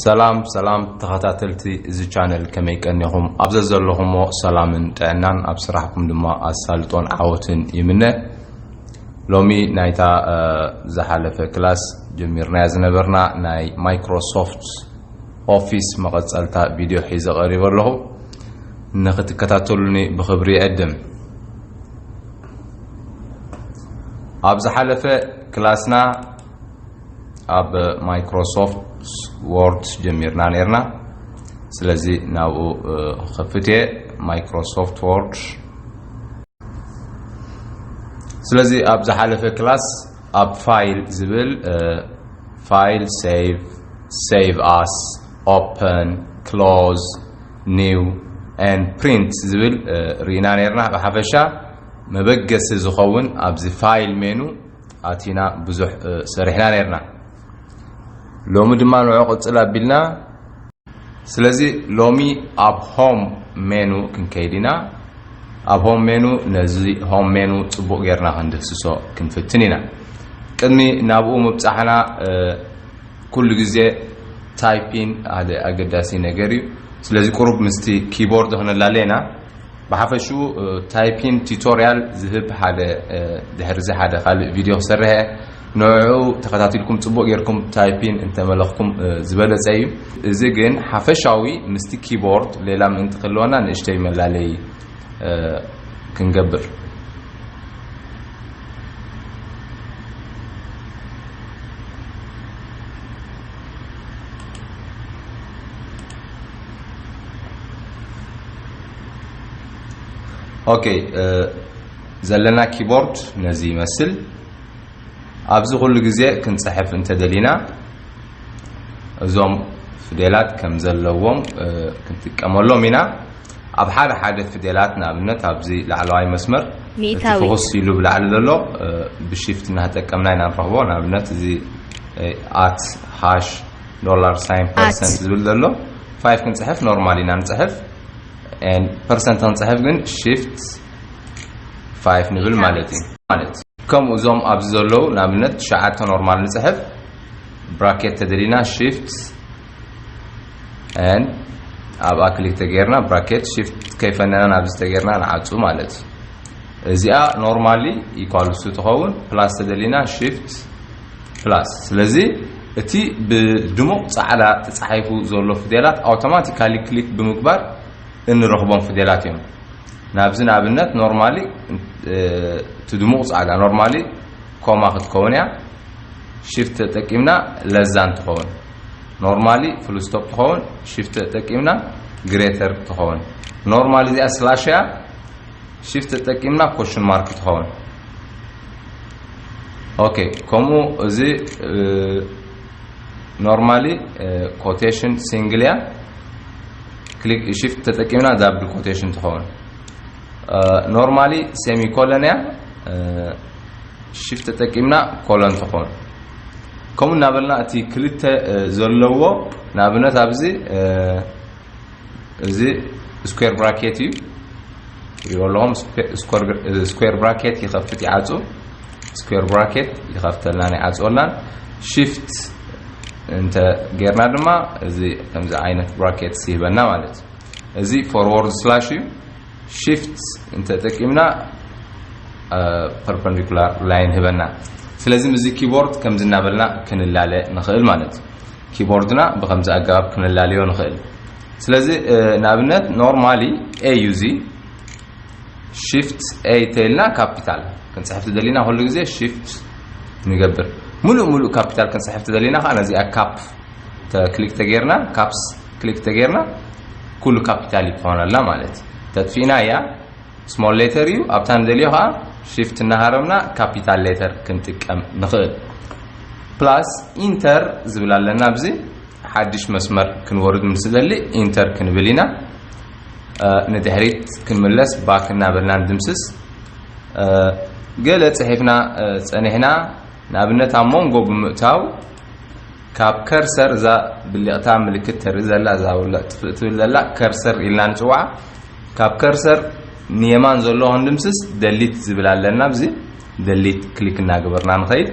ሰላም ሰላም ተኸታተልቲ እዚ ቻነል ከመይ ቀኒኹም ኣብ ዘዘለኹሞ ሰላምን ጥዕናን ኣብ ስራሕኩም ድማ ኣሳልጦን ዓወትን ይምነ ሎሚ ናይታ ዝሓለፈ ክላስ ጀሚርናያ ዝነበርና ናይ ማይክሮሶፍት ኦፊስ መቐፀልታ ቪድዮ ሒዘ ቀሪበ ኣለኹ ንክትከታተሉኒ ብክብሪ ይዕድም ኣብ ዝሓለፈ ክላስና ኣብ ማይክሮሶፍት ዎርድ ጀሚርና ነርና ስለዚ ናብኡ ክኸፍት እየ ማይክሮሶፍት ዎርድ ስለዚ ኣብ ዝሓለፈ ክላስ ኣብ ፋይል ዝብል ፋይል ሴቭ ሴቭ ኣስ ኦፕን ክሎዝ ኒው ን ፕሪንት ዝብል ርኢና ነርና ብሓፈሻ መበገሲ ዝኸውን ኣብዚ ፋይል ሜኑ ኣቲና ብዙሕ ሰሪሕና ነርና ሎሚ ድማ ንዑ ቅጽል ኣቢልና ስለዚ ሎሚ ኣብ ሆም ሜኑ ክንከይድ ኢና ኣብ ሆም ሜኑ ነዚ ሆም ሜኑ ጽቡቕ ጌርና ክንድህስሶ ክንፍትን ኢና ቅድሚ ናብኡ ምብጻሕና ኩሉ ግዜ ታይፒን ሓደ ኣገዳሲ ነገር እዩ ስለዚ ቁሩብ ምስቲ ኪቦርድ ክነላለ ኢና ብሓፈሽኡ ታይፒን ቲቶርያል ዝህብ ሓደ ድሕርዚ ሓደ ካልእ ቪድዮ ክሰርሕ እየ ንዕዑ ተኸታቲልኩም ጽቡቕ ጌርኩም ታይፒን እንተመለኽኩም ዝበለጸ እዩ እዚ ግን ሓፈሻዊ ምስቲ ኪቦርድ ሌላ ምእንቲ ክህልወና ንእሽተይ መላለይ ክንገብር ኦኬ ዘለና ኪቦርድ ነዚ ይመስል ኣብዚ ኩሉ ግዜ ክንፅሕፍ እንተደሊና እዞም ፍዴላት ከም ዘለዎም ክንጥቀመሎም ኢና ኣብ ሓደ ሓደ ፍዴላት ንኣብነት ኣብዚ ላዕለዋይ መስመር እቲ ፍኹስ ኢሉ ብላዕሊ ዘሎ ብሽፍት እናተጠቀምና ኢና ንረኽቦ ንኣብነት እዚ ኣት ሃሽ ዶላር ሳይን ፐርሰንት ዝብል ዘሎ ፋይፍ ክንፅሕፍ ኖርማል ኢና ንፅሕፍ ፐርሰንት ክንፅሕፍ ግን ሽፍት ፋይፍ ንብል ማለት እዩ ማለት ከምኡ እዞም ኣብዚ ዘለዉ ንኣብነት ትሽዓተ ኖርማል ንፅሕፍ ብራኬት ተደሊና ሽፍት ን ኣብኣ ክሊክ ተገይርና ብራኬት ሽፍት ከይፈነና ናብዚ ተገይርና ንዓፁ ማለት እዩ እዚኣ ኖርማሊ ኢኳልሱ ትኸውን ፕላስ ተደሊና ሽፍት ፕላስ ስለዚ እቲ ብድሙቕ ጻዕዳ ተጻሒፉ ዘሎ ፍዴላት ኣውቶማቲካሊ ክሊክ ብምግባር እንረኽቦም ፍዴላት እዮም ናብዚ ንኣብነት ኖርማሊ እቲ ድሙቕ ጻዕዳ ኖርማሊ ኮማ ክትከውን እያ ሽፍት ተጠቂምና ለዛን ትኸውን ኖርማሊ ፍሉስቶፕ ትኸውን ሽፍት ተጠቂምና ግሬተር ትኸውን ኖርማሊ እዚኣ ስላሽ እያ Shift ተጠቂምና ኮሽን ማርክ ትኸውን ኦኬ ከምኡ እዚ ኖርማሊ ኮቴሽን ሲንግል እያ ክሊክ ሺፍት ተጠቂምና ዳብል ኮቴሽን ትኸውን ኖርማሊ ሴሚኮለን እያ ሺፍት ተጠቂምና ኮለን ትኸውን ከምኡ እናበልና እቲ ክልተ ዘለዎ ንኣብነት ኣብዚ እዚ ስኩዌር ብራኬት እዩ ይበልዎም ስኩዌር ብራኬት ይኸፍት ይዓፁ ስኩዌር ብራኬት ይኸፍተልናን ይዓፅወልናን ሽፍት እንተ ጌርና ድማ እዚ ከምዚ ዓይነት ብራኬትስ ይህበና ማለት እዩ እዚ ፎርዎርድ ስላሽ እዩ ሽፍት እንተጠቂምና ፐርፐንዲኩላር ላይን ህበና ስለዚ ምዚ ኪቦርድ ከምዚ እናበልና ክንላለ ንኽእል ማለት እዩ ኪቦርድና ብኸምዚ ኣገባብ ክነላልዮ ንኽእል። ስለዚ ንኣብነት ኖርማሊ ኤ እዩ እዚ ሽፍት ኤ ተይልና ካፒታል ክንፅሕፍ ትደሊና ኩሉ ግዜ ሽፍት ንገብር ሙሉእ ሙሉእ ካፒታል ክንፅሕፍ ትደሊና ከዓ ነዚኣ ካፕ ክሊክ ተገይርና ካፕስ ክሊክ ተገይርና ኩሉ ካፒታል ይኮነላ ማለት እዩ ተጥፊእና እያ ስሞል ሌተር እዩ ኣብታ ንደልዮ ከዓ ሽፍት እናሃረምና ካፒታል ሌተር ክንጥቀም ንኽእል ፕላስ ኢንተር ዝብል ኣለና ኣብዚ ሓድሽ መስመር ክንወርድ ምስ ደሊ ኢንተር ክንብል ኢና ንድሕሪት ክንምለስ ባክ እናበልና ንድምስስ ገለ ፅሒፍና ፀኒሕና ንኣብነት ኣብ ሞንጎ ብምእታው ካብ ከርሰር እዛ ብሊቕታ ምልክት ተርኢ ዘላ እዛ ውልዕ ጥፍእ ትብል ዘላ ከርሰር ኢልና ንጽዋዓ ካብ ከርሰር ንየማን ዘሎ ክንድምስስ ደሊት ዝብል ኣለና ብዚ ደሊት ክሊክ እናገበርና ንኸይድ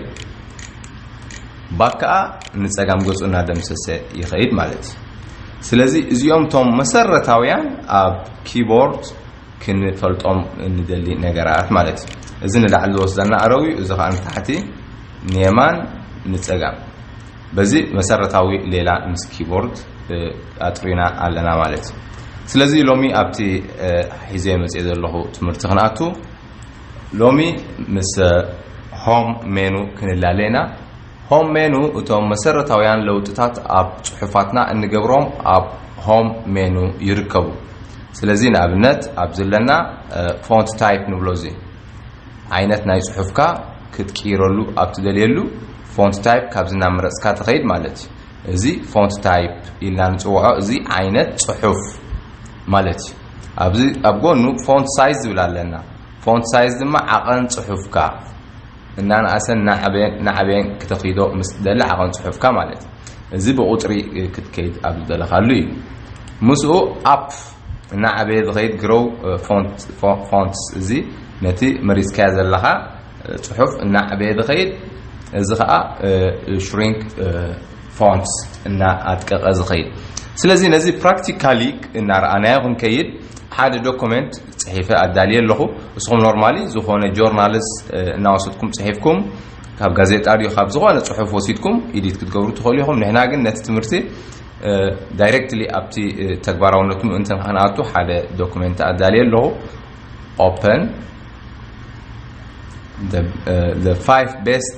ባክ ከዓ ንፀጋም ገጹ እናደምሰሰ ይኸይድ ማለት እዩ ስለዚ እዚኦም እቶም መሰረታውያን ኣብ ኪቦርድ ክንፈልጦም እንደሊ ነገራት ማለት እዩ እዚ ንላዕሊ ዝወስደና ኣረው እዩ እዚ ከዓ ንታሕቲ ንየማን ንጸጋም በዚ መሰረታዊ ሌላ ምስ ኪቦርድ ኣጥሪና ኣለና ማለት እዩ። ስለዚ ሎሚ ኣብቲ ሒዘዮ መጽየ ዘለኹ ትምህርቲ ክንኣቱ ሎሚ ምስ ሆም ሜኑ ክንላለ ኢና። ሆም ሜኑ እቶም መሰረታውያን ለውጥታት ኣብ ጽሑፋትና እንገብሮም ኣብ ሆም ሜኑ ይርከቡ። ስለዚ ንኣብነት ኣብዚ ኣለና ፎንት ታይፕ ንብሎ እዚ ዓይነት ናይ ጽሑፍካ ክትቅይረሉ ኣብ ትደልየሉ፣ Font Type ካብዚ እናመረጽካ ትኸይድ ማለት እዩ። እዚ Font Type ኢልና ንጽውዖ እዚ ዓይነት ጽሑፍ ማለት እዩ። ኣብዚ ኣብ ጎኑ Font Size ዝብል ኣለና። Font Size ድማ ዓቐን ጽሑፍካ እናነኣሰን እናዓበየን እናዓበየን ክተክይዶ ምስ ትደሊ ዓቐን ጽሑፍካ ማለት እዩ። እዚ ብቑጽሪ ክትከይድ ኣብ ዝደለኻሉ እዩ። ምስኡ Up እናዓበየ ዝኸይድ ግሮው ፎንትስ፣ እዚ ነቲ መሪጽካዮ ዘለኻ ጽሑፍ እናዕበየ ዝኸይድ፣ እዚ ከኣ ሽሪንክ ፎንትስ፣ እናኣድቀቐ ዝኸይድ። ስለዚ ነዚ ፕራክቲካሊ እናረኣናዮ ክንከይድ፣ ሓደ ዶኮመንት ጽሒፈ ኣዳልየ ኣለኹ። እስኹም ኖርማሊ ዝኾነ ጆርናልስ እናወሰድኩም ጽሒፍኩም፣ ካብ ጋዜጣ ድዩ ካብ ዝኾነ ጽሑፍ ወሲድኩም ኢዲት ክትገብሩ ትኽእሉ ኢኹም። ንሕና ግን ነቲ ትምህርቲ ዳይረክትሊ ኣብቲ ተግባራውነቱ ምእንቲ ንክንኣቱ ሓደ ዶኩመንት ኣዳልየ ኣለኹ ኦፐን the five best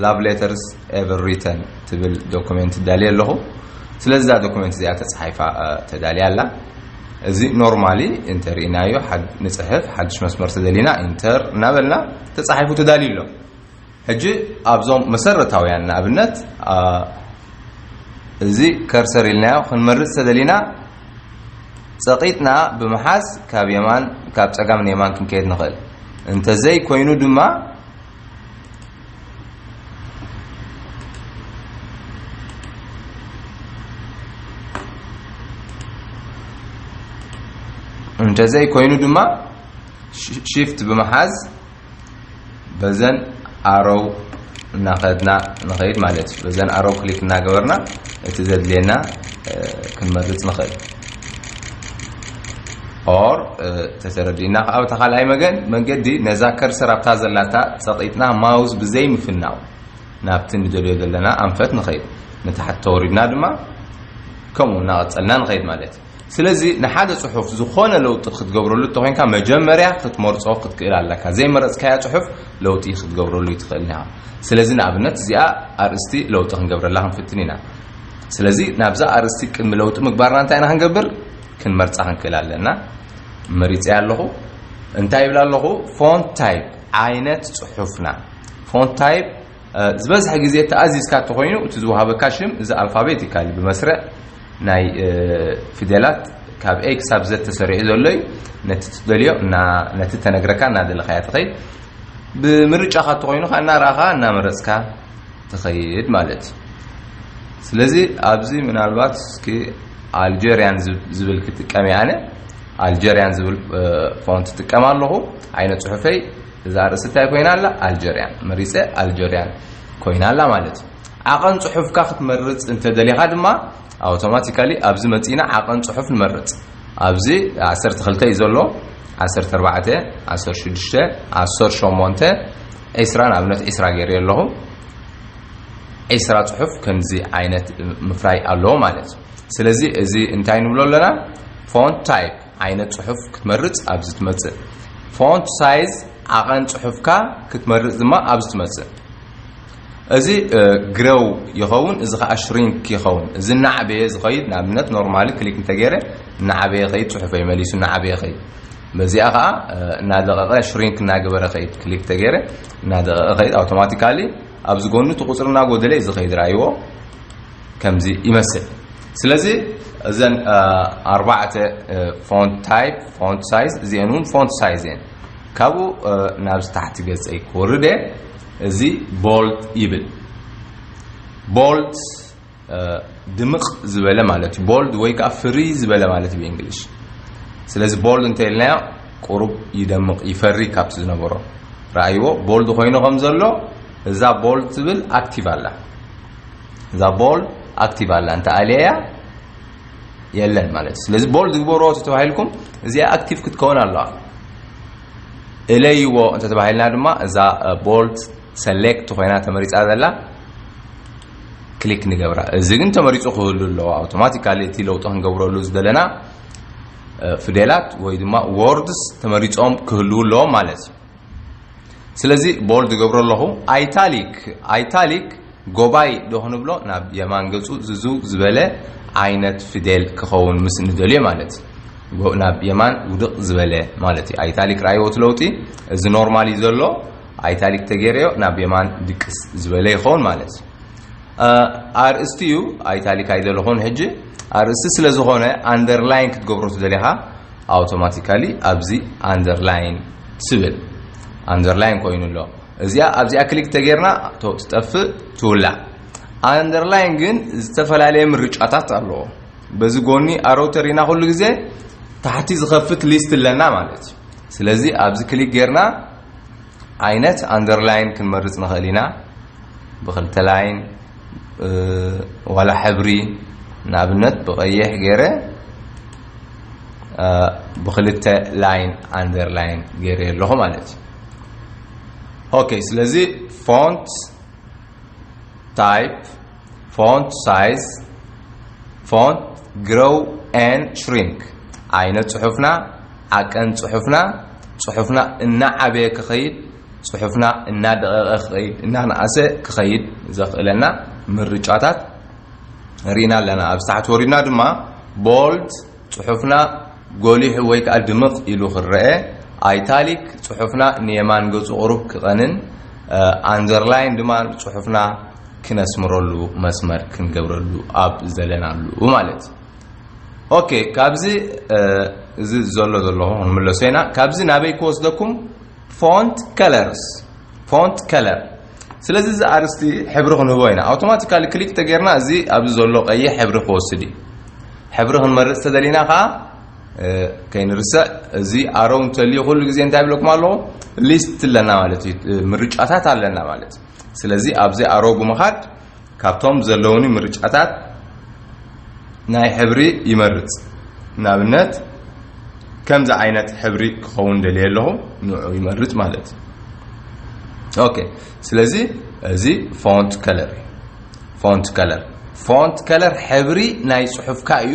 love letters ever written ትብል ዶኩመንት ዳልየ ኣለኹ ስለዚ እዛ ዶኩመንት እዚኣ ተፃሒፋ ተዳልያ ኣላ እዚ ኖርማሊ እንተርኢናዮ ንፅሕፍ ሓድሽ መስመር ተደሊና ኢንተር እናበልና ተፃሒፉ ተዳልዩ ኣሎ ሕጂ ኣብዞም መሰረታውያን ንኣብነት እዚ ከርሰር ኢልናዮ ክንመርጽ ተደሊና ጸቒጥና ብምሓዝ ካብ የማን ካብ ጸጋም ንየማን ክንከየድ ንኽእል እንተዘይ ኮይኑ ድማ እንተዘይ ኮይኑ ድማ ሽፍት ብምሓዝ በዘን ኣሮው እናኸድና ንኸይድ ማለት እዩ። በዘን ኣሮው ክሊክ እናገበርና እቲ ዘድልየና ክንመርፅ ንኽእል። ኦር ተተረዲእና ከዓ ብታ ካልኣይ መገን መንገዲ ነዛ ከርሰር ኣብታ ዘላታ ፀቂጥና ማውዝ ብዘይ ምፍናው ናብቲ ንደልዮ ዘለና ኣንፈት ንኸይድ ንታሕቲ ተወሪድና ድማ ከምኡ እናቐፀልና ንኸይድ ማለት ስለዚ ንሓደ ጽሑፍ ዝኾነ ለውጢ ክትገብረሉ እንተኾይንካ መጀመርያ ክትመርጾ ክትክእል ኣለካ። ዘይመረጽካዮ ጽሑፍ ለውጢ ክትገብረሉ እይትኽእልን ኢኻ። ስለዚ ንኣብነት እዚኣ ኣርእስቲ ለውጢ ክንገብረላ ክንፍትን ኢና። ስለዚ ናብዛ ኣርእስቲ ቅድሚ ለውጢ ምግባርና እንታይ ኢና ክንገብር ክንመርጻ ክንክእል ኣለና። መሪጸያ ኣለኹ። እንታይ ይብል ኣለኹ? ፎንት ታይፕ ዓይነት ጽሑፍና ፎንት ታይፕ ዝበዝሐ ግዜ ተኣዚዝካ እንተኾይኑ እቲ ዝወሃበካ ሽም እዚ ኣልፋቤት ይካል ብመስርዕ ናይ ፊደላት ካብ A ክሳብ Z ተሰሪዑ ዘሎ እዩ። ነቲ ትደልዮ ነቲ ተነግረካ እናደለኻያ ትኸይድ። ብምርጫኻ እንተኾይኑ ከ እናረኣኻ እናመረፅካ ትኸይድ ማለት እዩ። ስለዚ ኣብዚ ምናልባት እስኪ ኣልጀርያን ዝብል ክጥቀም ኣነ ኣልጀርያን ዝብል ፎንት ጥቀም ኣለኹ ዓይነ ፅሑፈይ እዛ ኣርእስቲ እንታይ ኮይና ኣላ ኣልጀርያን መሪጸ ኣልጀርያን ኮይና ኣላ ማለት እዩ። ዓቐን ጽሑፍካ ክትመርጽ እንተ ደሊኻ ድማ ኣውቶማቲካሊ ኣብዚ መጺእና ዓቐን ጽሑፍ ንመርጽ። ኣብዚ ዓሰርተ ክልተ እዩ ዘሎ ዓሰርተ ኣርባዕተ ዓሰርተ ሽዱሽተ ዓሰርተ ሸሞንተ ዒስራ ንኣብነት ዒስራ ገይረዮ ኣለኹ። ዒስራ ጽሑፍ ከምዚ ዓይነት ምፍራይ ኣለዎ ማለት እዩ። ስለዚ እዚ እንታይ ንብሎ ኣለና ፎንት ታይፕ ዓይነት ጽሑፍ ክትመርጽ ኣብዚ ትመጽእ። ፎንት ሳይዝ ዓቐን ጽሑፍካ ክትመርጽ ድማ ኣብዚ ትመጽእ። እዚ ግረው ይኸውን እዚ ከዓ ሽሪንክ ይኸውን እዚ እናዓበየ ዝኸይድ ንኣብነት ኖርማሊ ክሊክ እንተገይረ እናዓበየ ከይድ ፅሑፈይ መሊሱ እናዓበየ ከይድ በዚኣ ከዓ እናደቐቐ ሽሪንክ እናገበረ ከይድ ክሊክ ተገይረ እናደቐቐ ከይድ ኣውቶማቲካሊ ኣብዚ ጎኑ እቲ ቁፅሪ እናጎደለ እዩ ዝኸይድ ራእይዎ ከምዚ ይመስል ስለዚ እዘን ኣርባዕተ ፎንት ታይፕ ፎንት ሳይዝ እዚአን እውን ፎንት ሳይዝ እየን ካብኡ ናብ ታሕቲ ገፀይ ክወርድ እየ እዚ ቦልድ ይብል ቦልድ ድምቕ ዝበለ ማለት እዩ ቦልድ ወይ ከዓ ፍሪ ዝበለ ማለት እዩ ብእንግሊሽ ስለዚ ቦልድ እንተኢልናዮ ቁሩብ ይደምቕ ይፈሪ ካብቲ ዝነበሮ ረኣይዎ ቦልድ ኮይኑ ከም ዘሎ እዛ ቦልድ ትብል ኣክቲቭ ኣላ እዛ ቦል ኣክቲቭ ኣላ እንተ ኣልያ የለን ማለት እዩ ስለዚ ቦል ዝግበርዎ ተተባሂልኩም እዚኣ ኣክቲቭ ክትከውን ኣለዋ እለይዎ እንተ ተባሂልና ድማ እዛ ቦልት ሰሌክት ኮይና ተመሪፃ ዘላ ክሊክ ንገብራ እዚ ግን ተመሪፁ ክህሉ ኣለዎ ኣውቶማቲካሊ እቲ ለውጢ ክንገብረሉ ዝደለና ፊደላት ወይ ድማ ወርድስ ተመሪፆም ክህልው ኣለዎም ማለት እዩ ስለዚ ቦልድ እገብሮ ኣለኹ ኣይታሊክ ኣይታሊክ ጎባይ ዶ ክንብሎ ናብ የማን ገጹ ዝዝው ዝበለ ዓይነት ፍዴል ክኸውን ምስ ንደልዮ ማለት ናብ የማን ውድቕ ዝበለ ማለት እዩ ኣይታሊክ ራይዎ እቲ ለውጢ እዚ ኖርማል እዩ ዘሎ ኣይታሊክ ተገይረዮ ናብ የማን ድቅስ ዝበለ ይኸውን ማለት እዩ ኣርእስቲ እዩ ኣይታሊክ ኣይደለኹን ሕጂ ኣርእስቲ ስለ ዝኾነ ኣንደርላይን ክትገብሮ ትደሊኻ ኣውቶማቲካሊ ኣብዚ ኣንደርላይን ትብል ኣንደርላይን ኮይኑ ኣሎ እዚኣ ኣብዚኣ ክሊክ ተጌርና ትጠፍእ ትውላዕ ኣንደርላይን ግን ዝተፈላለየ ምርጫታት ኣለዎ በዚ ጎኒ ኣሮተሪና ኩሉ ግዜ ታሕቲ ዝኸፍት ሊስት ኣለና ማለት እዩ ስለዚ ኣብዚ ክሊክ ጌርና ዓይነት ኣንደርላይን ክንመርጽ ንኽእል ኢና፣ ብኽልተ ላይን ዋላ ሕብሪ ንኣብነት ብቐይሕ ገይረ ብኽልተ ላይን ኣንደርላይን ገይረ ኣለኹ ማለት እዩ። ኦኬ ስለዚ ፎንት ታይፕ Font Size Font Grow and Shrink ዓይነት ጽሑፍና ዓቀን ጽሑፍና ጽሑፍና እናዓበየ ክኸይድ ጽሑፍና እናደቐቐ ክኸይድ እናነኣሰ ክኸይድ ዘኽእለና ምርጫታት ርኢና ኣለና ኣብ ታሕቲ ወሪድና ድማ ቦልድ ጽሑፍና ጎሊሑ ወይ ከኣ ድምቕ ኢሉ ክረኤ፣ ኣይታሊክ፣ ጽሑፍና ንየማን ገጹ ቁሩብ ክቐንን፣ ኣንደርላይን ድማ ጽሑፍና ክነስምረሉ መስመር ክንገብረሉ ኣብ ዝደለናሉ ማለት እዩ። ኦኬ ካብዚ እዚ ዘሎ ዘለኹ ክንምለሶ ኢና። ካብዚ ናበይ ክወስደኩም? Font Colors Font Color ስለዚ እዚ ኣርስቲ ሕብሪ ክንህቦ ኢና ኣውቶማቲካሊ ክሊክ ተገይርና እዚ ኣብዚ ዘሎ ቀይሕ ሕብሪ ክወስድ እዩ ሕብሪ ክንመርፅ ተደሊና ከዓ ከይንርስዕ እዚ ኣሮው እንተልዩ ኩሉ ግዜ እንታይ ብለኩም ኣለኹ ሊስት ኣለና ማለት እዩ ምርጫታት ኣለና ማለት እዩ ስለዚ ኣብዚ ኣሮው ብምኻድ ካብቶም ዘለዉኒ ምርጫታት ናይ ሕብሪ ይመርጽ፣ ንኣብነት ከምዚ ዓይነት ሕብሪ ክኸውን ደልየ ኣለኹ ንዑ ይመርጽ ማለት እዩ። ኦኬ ስለዚ እዚ ፎንት ከለር እዩ። ፎንት ከለር ፎንት ከለር ሕብሪ ናይ ጽሑፍካ እዩ።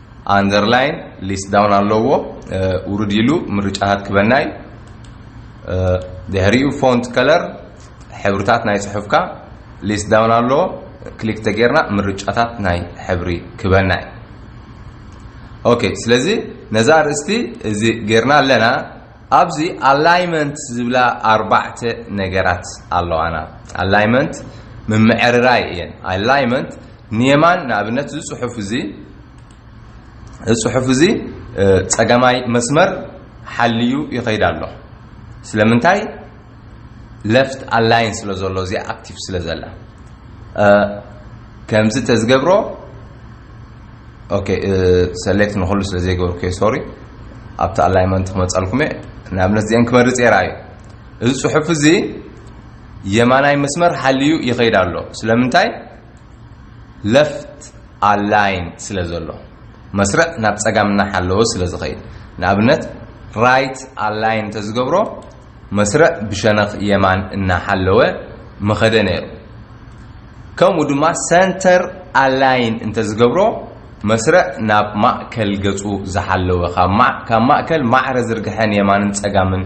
ኣንደርላይን ሊስት ዳውን ኣለዎ ውርድ ኢሉ ምርጫታት ክበና እዩ ድሕሪኡ ፎንት ከለር ሕብርታት ናይ ጽሑፍካ ሊስት ዳውን ኣለዎ ክሊክ ተጌርና ምርጫታት ናይ ሕብሪ ክበና እዩ ኦኬ ስለዚ ነዛ ርእስቲ እዚ ጌርና ኣለና ኣብዚ ኣላይመንት ዝብላ ኣርባዕተ ነገራት ኣለዋና ኣላይመንት ምምዕርራይ እየን ኣላይመንት ንየማን ንኣብነት እዚ ጽሑፍ እዚ እዚ ጽሑፍ እዚ ጸገማይ መስመር ሓልዩ ይኸይድ ኣሎ ስለምንታይ ለፍት ኣላይን ስለ ዘሎ እዚ ኣክቲቭ ስለ ዘላ ከምዚ ተዝገብሮ ኦኬ ሰሌክት ንክሉ ስለ ዘይገበርኩ ሶሪ ኣብቲ ኣላይመንት ክመፀልኩም እየ ንኣብነት እዚአን ክመርፅ የራ እዩ እዚ ፅሑፍ እዚ የማናይ መስመር ሓልዩ ይኸይድ ኣሎ ስለምንታይ ለፍት ኣላይን ስለ ዘሎ መስርዕ ናብ ጸጋም እናሓለወ ስለ ዝኸይድ ንኣብነት ራይት ኣላይን እንተዝገብሮ መስርዕ ብሸነኽ የማን እናሓለወ ምኸደ ነይሩ ከምኡ ድማ ሰንተር ኣላይን እንተዝገብሮ መስርዕ ናብ ማእከል ገጹ ዝሓለወ ካብ ማእከል ማዕረ ዝርግሐን የማንን ጸጋምን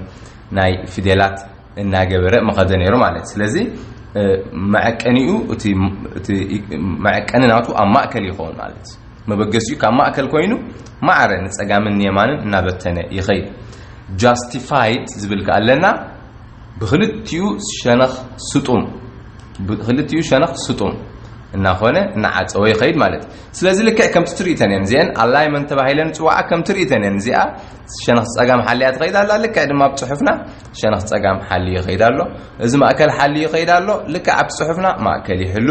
ናይ ፊደላት እናገበረ ምኸደ ነይሩ ማለት እዩ። ስለዚ መዐቀኒኡ እቲ መዐቀኒ ናቱ ኣብ ማእከል ይኸውን ማለት እዩ። መበገሲኡ ካብ ማእከል ኮይኑ ማዕረ ንጸጋምን ንየማንን እናበተነ ይኸይድ። ጃስቲፋይድ ዝብል ከኣ ኣለና ብክልቲኡ ሸነኽ ስጡም ብክልቲኡ ሸነኽ ስጡም እናኾነ እናዓጸወ ይኸይድ ማለት እዩ። ስለዚ ልክዕ ከምቲ ትርኢተን እየን እዚአን ኣላይመንት ተባሂለን ዝጽዋዓ ከምቲ ርኢተን እየን እዚኣ ሸነኽ ጸጋም ሓሊያ ትኸይድ ኣላ ልክዕ ድማ ኣብ ጽሑፍና ሸነኽ ጸጋም ሓልዩ ይኸይድ ኣሎ። እዚ ማእከል ሓልዩ ይኸይድ ኣሎ። ልክዕ ኣብቲ ጽሑፍና ማእከል ይሕሉ፣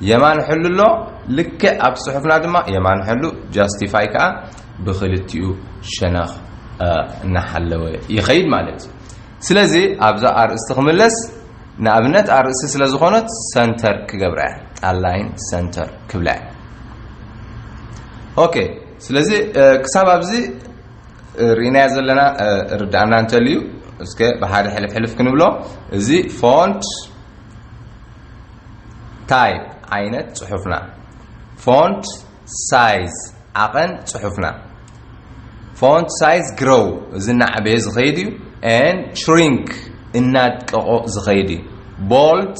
የማን ሕሉ ኣሎ። ልክዕ ኣብቲ ጽሑፍና ድማ የማን ሕሉ፣ ጃስቲፋይ ከኣ ብክልቲኡ ሸነኽ እናሓለወ ይኸይድ ማለት እዩ። ስለዚ ኣብዛ ኣርእስቲ ክምለስ ንኣብነት ኣርእስቲ ስለ ዝኾነት ሰንተር ክገብራ እያ። ኣላይን ሰንተር ክብላ እያ። ኦኬ ስለዚ ክሳብ ኣብዚ ሪእናዮ ዘለና ርዳእና እንተልዩ እስከ ብሓደ ሕልፍ ሕልፍ ክንብሎ እዚ ፎንት ታይፕ ዓይነት ጽሑፍና ፎንት ሳይዝ ዓቐን ጽሑፍና ፎንት ሳይዝ ግሮው እዚ እናዕበየ ዝኸይድ እዩ ን ሽሪንክ እናድቀቆ ዝኸይድ እዩ ቦልት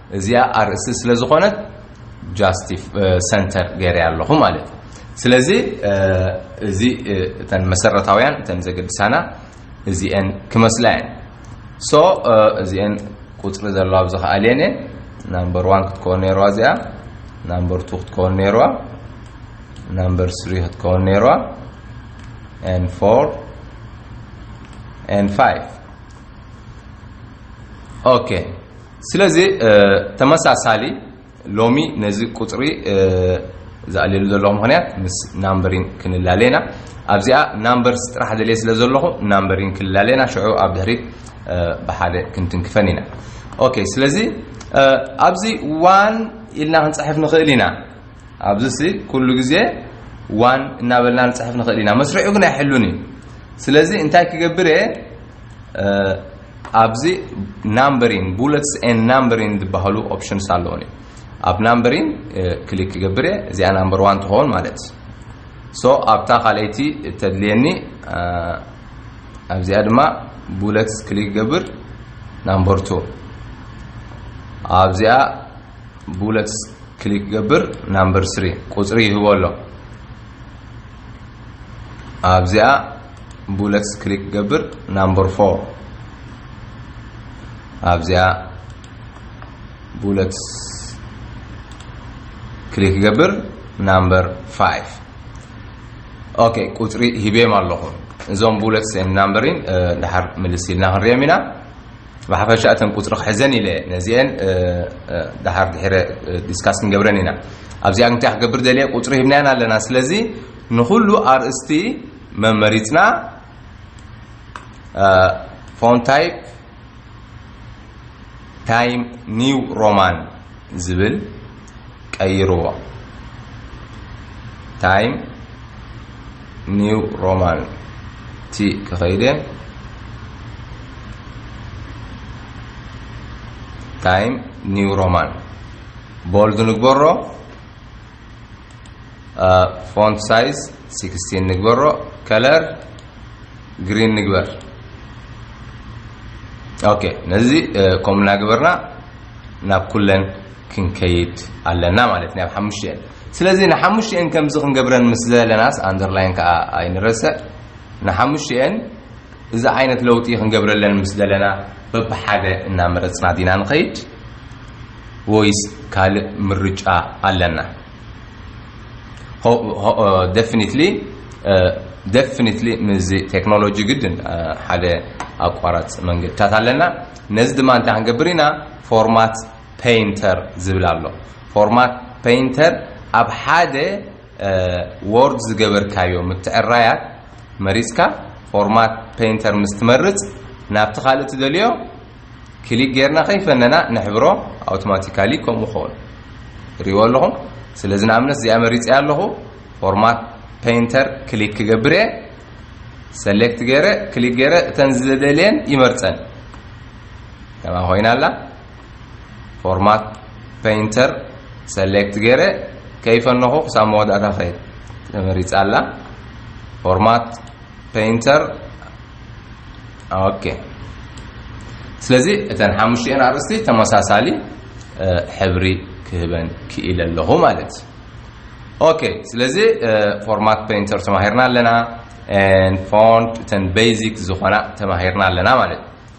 እዚኣ ኣርእስቲ ስለ ዝኾነት ጃስቲፍ ሰንተር ገይረያ ኣለኹ ማለት እዩ ስለዚ እዚ እተን መሰረታውያን እተን ዘገድሳና እዚኤን ክመስላ እየን ሶ እዚኤን ቁፅሪ ዘለዋ ኣብዚ ከኣልየን እየን ናምበር ዋን ክትከውን ነይርዋ እዚኣ ናምበር ቱ ክትከውን ነይርዋ ናምበር ስሪ ክትከውን ነይርዋ ን ፎር ን ፋይቭ ኦኬ ስለዚ ተመሳሳሊ ሎሚ ነዚ ቁጽሪ ዝኣልየሉ ዘለኹ ምኽንያት ምስ ናምበሪን ክንላለ ኢና። ኣብዚኣ ናምበርስ ጥራሕ ደልየ ስለ ዘለኹ ናምበሪን ክንላለ ኢና ሽዑ ኣብ ድሕሪት ብሓደ ክንትንክፈን ኢና። ኦኬ ስለዚ ኣብዚ ዋን ኢልና ክንጽሕፍ ንኽእል ኢና። ኣብዚሲ ኩሉ ግዜ ዋን እናበልና ንጽሕፍ ንኽእል ኢና። መስርዑ ግን ኣይሕሉን እዩ። ስለዚ እንታይ ክገብር እየ ኣብዚ ናምበሪን ቡለትስ ኤን ናምበሪን ዝበሃሉ ኦፕሽንስ ኣለዉኒ ኣብ ናምበሪን ክሊክ ክገብር እየ እዚኣ ናምበር ዋን ትኸውን ማለት ሶ ኣብታ ካልኣይቲ እተድልየኒ ኣብዚኣ ድማ ቡለትስ ክሊክ ገብር ናምበር ቱ ኣብዚኣ ቡለትስ ክሊክ ገብር ናምበር ስሪ ቁፅሪ ይህቦ ኣሎ ኣብዚኣ ቡለትስ ክሊክ ክገብር ናምበር ፎር ኣብዚኣ ቡለትስ ክሊክ ክገብር ናምበር ፋይቭ ኦኬ ቁፅሪ ሂቤም ኣለኹ እዞም ቡለትስ ን ናምበሪን ድሓር ምልስ ኢልና ክንሪኦም ኢና ብሓፈሻ እተን ቁፅሪ ክሕዘን ኢለ ነዚአን ድሓር ድሕረ ዲስካስ ክንገብረን ኢና ኣብዚኣ እንታይ ክገብር ደልየ ቁፅሪ ሂብናያን ኣለና ስለዚ ንኩሉ ኣርእስቲ መመሪጽና ፎን ታይፕ ታይም ኒው ሮማን ዝብል ቀይርዎ ታይም ኒው ሮማን ቲ ክኸይደ ታይም ኒው ሮማን ቦልድ ንግበሮ ፎንት ሳይዝ ሲክስቲን ንግበሮ ከለር ግሪን ንግበር ኦኬ ነዚ ከምኡ እናገበርና ናብ ኩለን ክንከይድ ኣለና ማለት ናብ ሓሙሽተን ስለዚ ንሓሙሽተን ከምዚ ክንገብረን ምስ ዘለናስ ኣንደርላይን ከዓ ኣይንረስዕ ንሓሙሽተን እዚ ዓይነት ለውጢ ክንገብረለን ምስ ደለና በብሓደ እናመረጽና ዲና ንኸይድ ወይስ ካልእ ምርጫ ኣለና? ደፍኒትሊ ደፍኒትሊ ምስዚ ቴክኖሎጂ ግድን ሓደ ኣቋራጽ መንገድታት ኣለና። ነዚ ድማ እንታይ ክንገብር ኢና ፎርማት ፔይንተር ዝብል ኣሎ ፎርማት ፔይንተር ኣብ ሓደ ዎርድ ዝገበርካዮ ምትዕራያት መሪጽካ ፎርማት ፐይንተር ምስ ትመርጽ ናብቲ ካልእ ትደልዮ ክሊክ ጌርና ከይፈነና ነሕብሮ ኣውቶማቲካሊ ከምኡ ክኸውን ሪዎ ኣለኹም ስለዚ ንኣብነት እዚኣ መሪጸ ኣለኹ ፎርማት ፐይንተር ክሊክ ክገብር እየ ሰሌክት ገይረ ክሊክ ገይረ እተን ዝደልየን ይመርጸን ከማ ኮይና ኣላ ፎርማት ፔይንተር ሰሌክት ገይረ ከይፈነኹ ክሳብ መወዳእታ ኸይድ ተመሪፃ ኣላ ፎርማት ፔይንተር ኦኬ ስለዚ እተን ሓሙሽቲኤን ኣርእስቲ ተመሳሳሊ ሕብሪ ክህበን ክኢለ ኣለኹ ማለት እዩ ኦኬ ስለዚ ፎርማት ፔይንተር ተማሂርና ኣለና ፎንት እተን ቤዚክ ዝኾና ተማሂርና ኣለና ማለት እዩ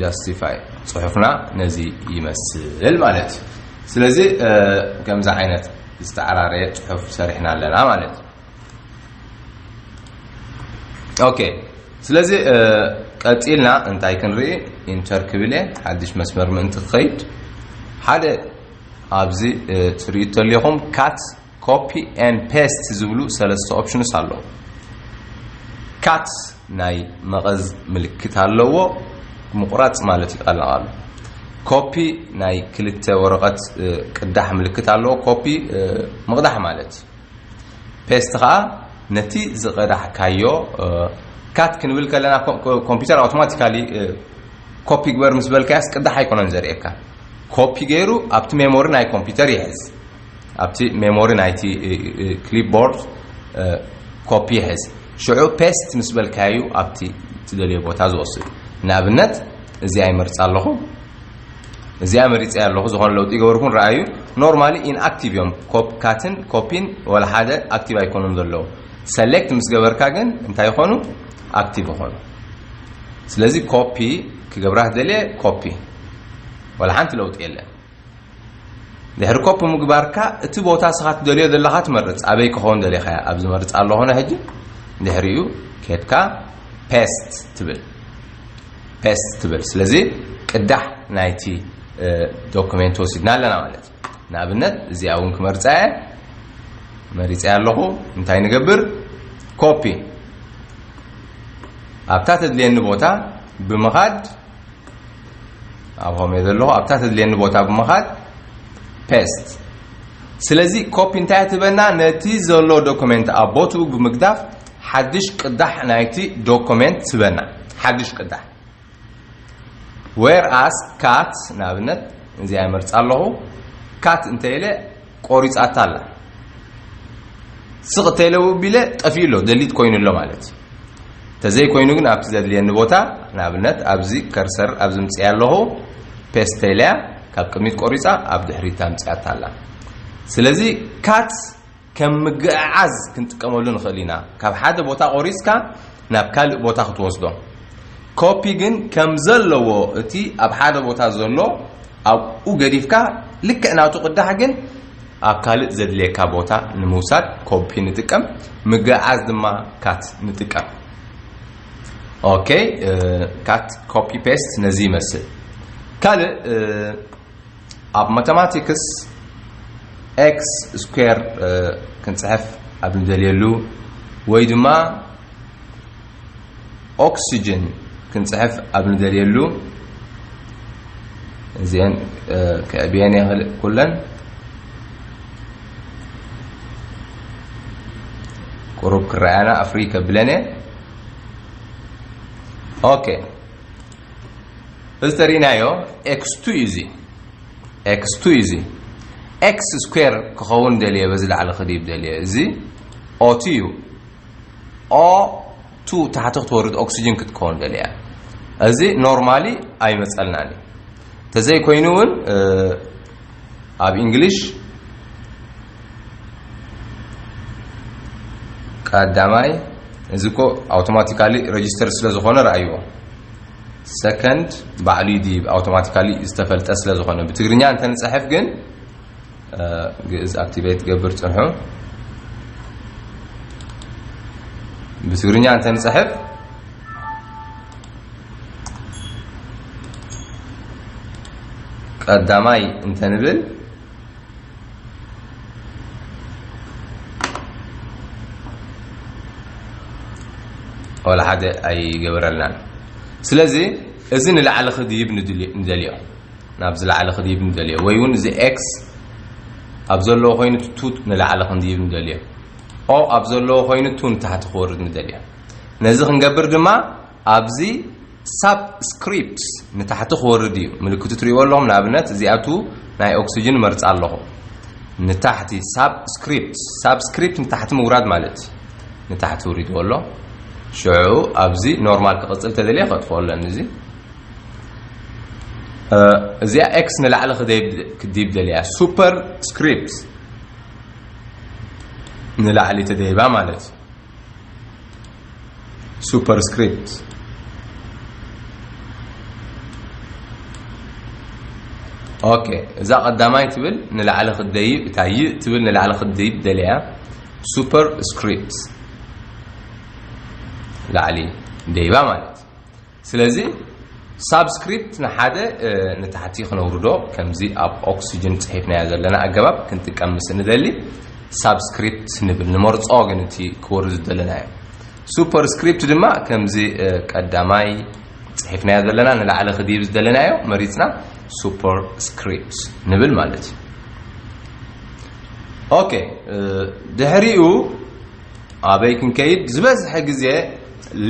ጃስቲፋይ ፅሑፍና ነዚ ይመስል ማለት እዩ። ስለዚ ከምዚ ዓይነት ዝተዓራረየ ፅሑፍ ሰሪሕና ኣለና ማለት እዩ። ኦኬ ስለዚ ቀፂልና እንታይ ክንርኢ ኢንተር ክብል እየ ሓድሽ መስመር ምእንቲ ክኸይድ ሓደ ኣብዚ ትርእዩ ተለኹም ካት ኮፒ and paste ዝብሉ ሰለስተ ኦፕሽንስ ኣለዉ። ካት ናይ መቐዝ ምልክት ኣለዎ፣ ምቑራጽ ማለት እዩ ቃል ንቓሉ። ኮፒ ናይ ክልተ ወረቐት ቅዳሕ ምልክት ኣለዎ፣ ኮፒ ምቕዳሕ ማለት እዩ። ፔስት ከዓ ነቲ ዝቐዳሕካዮ ካት ክንብል ከለና ኮምፒውተር ኣውቶማቲካሊ ኮፒ ግበር ምስ በልካያስ ቅዳሕ ኣይኮነን ዘርእየካ። ኮፒ ገይሩ ኣብቲ ሜሞሪ ናይ ኮምፒውተር ይሕዝ። ኣብቲ ሜሞሪ ናይቲ ክሊፕቦርድ ኮፒ ሕዝ። ሽዑ ፔስት ምስ በልካዩ ኣብቲ ትደልዮ ቦታ ዝወስድ። ንኣብነት እዚኣ ይመርጽ ኣለኹ። እዚኣ መሪጸያ ኣለኹ። ዝኾነ ለውጢ ይገበርኩን ረኣዩ። ኖርማሊ ኢንኣክቲቭ እዮም። ኮፕ ካትን ኮፒን ወላ ሓደ ኣክቲቭ ኣይኮኑን ዘለዉ። ሰሌክት ምስ ገበርካ ግን እንታይ ይኾኑ? ኣክቲቭ ይኾኑ። ስለዚ ኮፒ ክገብራ ትደልየ ኮፒ ወላ ሓንቲ ለውጢ የለን። ድሕሪ ኮፒ ምግባርካ እቲ ቦታ ስኻ ትደልዮ ዘለኻ ትመርጽ ኣበይ ክኸውን ደሊኻያ ኣብ ዝመርጽ ኣለኹ ነ ሕጂ ድሕሪኡ ኬድካ ፔስት ትብል ፔስት ትብል ስለዚ ቅዳሕ ናይቲ ዶክሜንት ወሲድና ኣለና ማለት እዩ ንኣብነት እዚኣ እውን ክመርፃ እየ መሪፀ ኣለኹ እንታይ ንገብር ኮፒ ኣብታ ተድልየኒ ቦታ ብምኻድ ኣብ ሆም እየ ዘለኹ ኣብታ ተድልየኒ ቦታ ብምኻድ ፔስት ስለዚ ኮፒ እንታይ ትበና ነቲ ዘሎ ዶክመንት ኣብ ቦትኡ ብምግዳፍ ሓድሽ ቅዳሕ ናይቲ ዶክመንት ትበና ሓድሽ ቅዳሕ ዌር ኣስ ካት ንኣብነት እዚኣ መርፃ ኣለኹ ካት እንተኢለ ቆሪጻታ ኣላ ስቅ ተለ ው ቢለ ጠፊኡ ኣሎ ደሊት ኮይኑ ኣሎ ማለት እዩ ተዘይ ኮይኑ ግን ኣብቲ ዘድልየኒ ቦታ ንኣብነት ኣብዚ ከርሰር ኣብዚ ምጽያ ኣለኹ ፔስት ተለያ ካብ ቅድሚት ቆሪጻ ኣብ ድሕሪት ኣምጽያታ ኣላ ስለዚ ካት ከም ምግዕዓዝ ክንጥቀመሉ ንኽእል ኢና ካብ ሓደ ቦታ ቆሪጽካ ናብ ካልእ ቦታ ክትወስዶ ኮፒ ግን ከም ዘለዎ እቲ ኣብ ሓደ ቦታ ዘሎ ኣብኡ ገዲፍካ ልክዕ ናቱ ቅዳሕ ግን ኣብ ካልእ ዘድልየካ ቦታ ንምውሳድ ኮፒ ንጥቀም ምግዕዓዝ ድማ ካት ንጥቀም ኦኬ ካት ኮፒ ፔስት ነዚ ይመስል ካልእ ኣብ ማተማቲክስ ኤክስ ስኩዌር ክንፅሕፍ ኣብ ንደልየሉ ወይ ድማ ኦክሲጅን ክንፅሕፍ ኣብ ንደልየሉ እዚአን ክዕብየን የኽእል ኩለን ቁሩብ ክረኣያና ኣፍሪ ከብለን እየ ኦኬ እዚ ተሪእናዮ ኤክስ ቱ ኢዚ ኤክስ ቱ ኢዚ ኤክስ ስኩዌር ክኸውን ደልየ በዚ ላዕሊ ክድይብ ደልየ እዚ ኦቲ እዩ ኦ ቱ ታሕቲ ክትወርድ ኦክሲጅን ክትከውን ደልያ እዚ ኖርማሊ ኣይመፀልናን እዩ ተዘይኮይኑ እውን ኣብ እንግሊሽ ቀዳማይ እዚ እኮ ኣውቶማቲካሊ ረጅስተር ስለ ዝኾነ ረኣይዎ ሰከንድ ባዕሉ ይድይብ ኣውቶማቲካሊ ዝተፈልጠ ስለ ዝኾነ ብትግርኛ እንተ ንፅሕፍ ግን ግእዝ ኣክቲቬት ገብር ፅንሑ ብትግርኛ እንተ ንፅሕፍ ቀዳማይ እንተንብል ወላ ሓደ ኣይገብረልናን ስለዚ እዚ ንላዕሊ ክድይብ ንደልዮ ናብ ዝላዕሊ ክድይብ ንደልዮ ወይ እውን እዚ ኤክስ ኣብ ዘለዎ ኮይኑ ቱ ንላዕሊ ክንድይብ ንደልዮ ኦ ኣብ ዘለዎ ኮይኑ ቱ ንታሕቲ ክወርድ ንደልዮ ነዚ ክንገብር ድማ ኣብዚ ሳብ ስክሪፕትስ ንታሕቲ ክወርድ እዩ ምልክቱ ትሪእዎ ኣለኹም ንኣብነት እዚኣቱ ናይ ኦክስጅን መርፃ ኣለኹ ንታሕቲ ሳብ ስክሪፕትስ ሳብ ስክሪፕት ንታሕቲ ምውራድ ማለት እዩ ንታሕቲ ውሪድዎ ኣሎ ሽዑ ኣብዚ ኖርማል ክቕፅል ተደልየ ከጥፍኦ ኣለኒ እዚ እዚኣ ኤክስ ንላዕሊ ክዲብ ደልያ ሱፐር ስክሪፕት ንላዕሊ ተደይባ ማለት እዩ Superscript ኦኬ እዛ ቀዳማይ ትብል ንላዕሊ ክደይብ እታ ይ ትብል ንላዕሊ ክደይብ ደልያ ሱፐር ስክሪፕት ላዕሊ ደይባ ማለት ስለዚ ሳብስክሪፕት ንሓደ ንታሕቲ ክነውርዶ ከምዚ ኣብ ኦክስጅን ጽሒፍናዮ ዘለና ኣገባብ ክንጥቀም ምስ ንደሊ ሳብስክሪፕት ንብል ንመርጾ ግን እቲ ክወርድ ዝደለናዮ ሱፐርስክሪፕት ድማ ከምዚ ቀዳማይ ጽሒፍናዮ ዘለና ንላዕሊ ክድይብ ዝደለናዮ መሪጽና ሱፐርስክሪፕት ንብል ማለት እዩ ኦኬ ድሕሪኡ ኣበይ ክንከይድ ዝበዝሐ ግዜ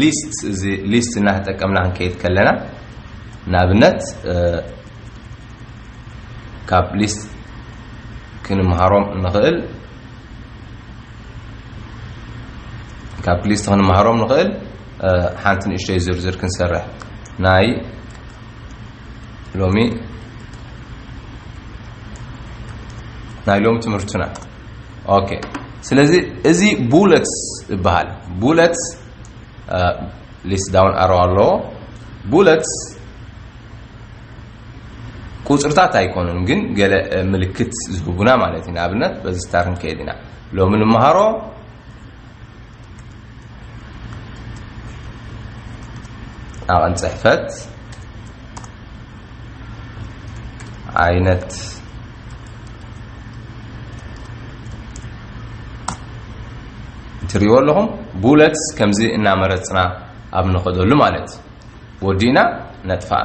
ሊስት እዚ ሊስት እናተጠቀምና ክንከይድ ከለና ንኣብነት ካብ ሊስት ክንምሃሮም ንኽእል ካብ ሊስት ክንምሃሮም ንኽእል ሓንቲ ንእሽተይ ዝርዝር ክንሰርሕ ናይ ሎሚ ናይ ሎሚ ትምህርትና ኦኬ ስለዚ እዚ ቡለትስ ይበሃል ቡለትስ ሊስት ዳውን ኣሮ ኣለዎ ቡለትስ ቁፅርታት ኣይኮኑን ግን ገለ ምልክት ዝህቡና ማለት እዩ ንኣብነት በዚ ስታር ንከይድ ኢና ሎሚ ንመሃሮ ዓቐን ፅሕፈት ዓይነት ትሪእዎ ኣለኹም ቡለትስ ከምዚ እናመረፅና ኣብ ንኸደሉ ማለት እዩ ወዲእና ነጥፋኣ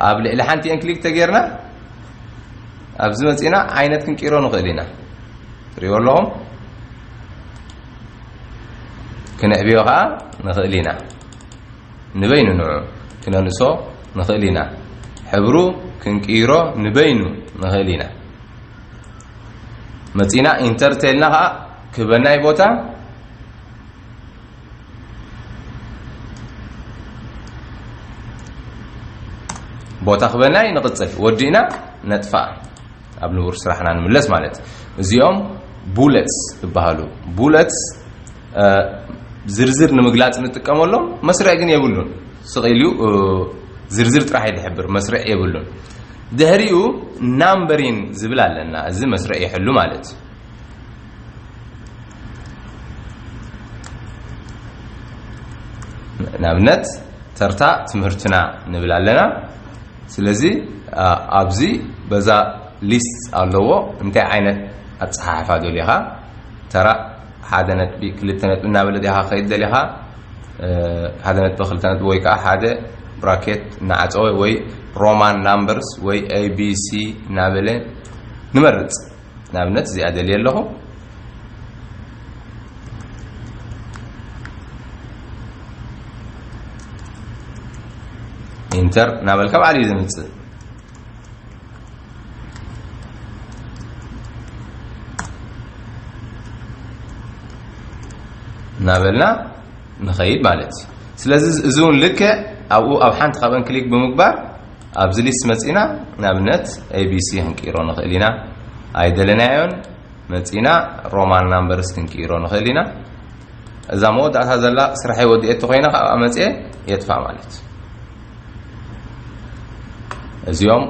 ኣብ ልዕሊ ሓንቲ ኤን ክሊክ ተገይርና ኣብዚ መፂእና ዓይነት ክንቅይሮ ንኽእል ኢና ትሪእዎ ኣለኹም ክንዕብዮ ከዓ ንኽእል ኢና ንበይኑ ንዑ ክነንእሶ ንኽእል ኢና ሕብሩ ክንቅይሮ ንበይኑ ንኽእል ኢና መፂና ኢንተር ተልና ከዓ ክበናይ ቦታ ቦታ ክበናይ ንቕፅል ወዲእና ነጥፋእ ኣብ ንቡር ስራሕና ንምለስ ማለት እዚኦም ቡለትስ ይበሃሉ ቡለትስ ዝርዝር ንምግላፅ ንጥቀመሎም መስርዕ ግን የብሉን ስቕ ኢሉ ዝርዝር ጥራሕ እዩ ዝሕብር መስርዕ የብሉን ድሕሪኡ ናምበሪን ዝብል ኣለና እዚ መስርዕ ይሕሉ ማለት እዩ ንኣብነት ተርታ ትምህርትና ንብል ኣለና ስለዚ ኣብዚ በዛ ሊስት ኣለዎ እንታይ ዓይነት ኣጸሓሕፋ ደሊኻ ተራ ሓደ ነጥቢ ክልተ ነጥቢ እናበለ ዲኻ ከይድ ደሊኻ ሓደ ነጥቢ ክልተ ነጥቢ ወይ ከዓ ሓደ ብራኬት እናዓፀወ ወይ ሮማን ናምበርስ ወይ ኤቢሲ እናበለ ንመርፅ ንኣብነት እዚኣ ደልየ ኣለኹ ኢንተር ናበልካ ባዕሉ እዩ ዝምፅእ እናበልና ንኸይድ ማለት እዩ ስለዚ እዚ እውን ልክዕ ኣብኡ ኣብ ሓንቲ ካብአን ክሊክ ብምግባር ኣብዚ ሊስት መጺእና ንኣብነት ኤቢሲ ክንቅይሮ ንኽእል ኢና። ኣይደለናዮን መጺእና ሮማን ናምበርስ ክንቅይሮ ንኽእል ኢና። እዛ መወዳእታ ዘላ ስራሐይ ወዲኤ እንተኾይነ ከኣ ኣብኣ መጺኤ የጥፍኣ ማለት እዩ። እዚኦም